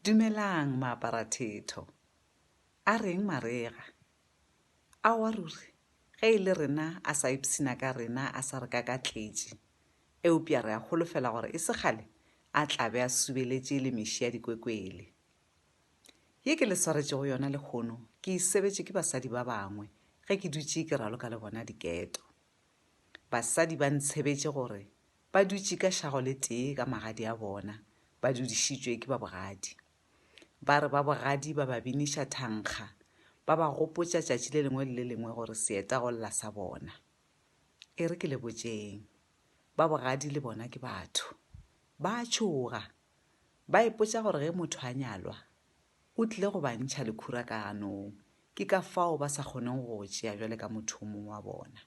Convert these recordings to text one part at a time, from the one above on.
Dumelang maaparathetho. A reng marega? Aowa ruri, ge e le rena a sa ipshina ka rena a sa re kakatletše. Eupša re a holofela gore e se kgale a tla be a subeletše le meši ya dikwekwele. Ye ke le swaretšego yona lehono ke e sebetše ke basadi ba bangwe ge ke dutše ke raloka le bona diketo. Basadi ba ntshebetše gore ba dutše ka šago le tee ka magadi a bona, ba dudišitšwe ke babogadi. Ba re babogadi ba ba biniša thankga, ba ba gopotša tšatši le lengwe le le lengwe gore seeta go lla sa bona. E re ke le botšeng, babogadi le bona ke batho. Ba a tšhoga. Ba ipotša gore ge motho a nyalwa, o tlile go ba ntšha lekhura ka ganong, ke ka fao ba sa kgoneng go go tšea bjale ka motho o mongwe wa bona.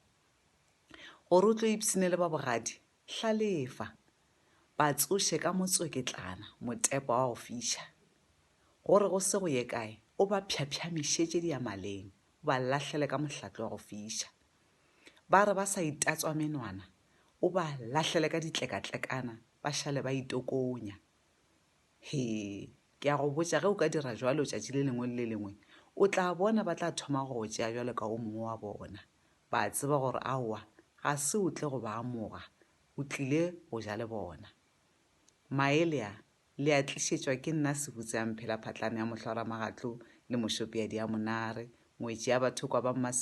Gore o tlo ipshine le ba bogadi, hlalefa, ba tsoše ka motsweketlana motepa wa go fiša. Gore go se go ye kae, o ba phyaphyamešišetše diamaleng, o ba lahlele ka mohlatle wa go fiša. Ba re ba sa itatswa menwana, o ba lahlele ka ditlekatlekana, ba šale ba itokonya. He, ke a go botša, ge o ka dira jwalo tšatši le lengwe le le lengwe, o tla bona ba tla thoma go go tšea jwalo ka o mongwe wa bona. Ba a tseba gore aowa, ga se o tle go ba amoga, o tlile go ja le bona. Maelea, le a tlišetšwa ke nna Sebutseamphela phatlane ya mohlwaramagatlo le mošopeadi ya monare, ngwetši ya bathokwa ba Mmasilo,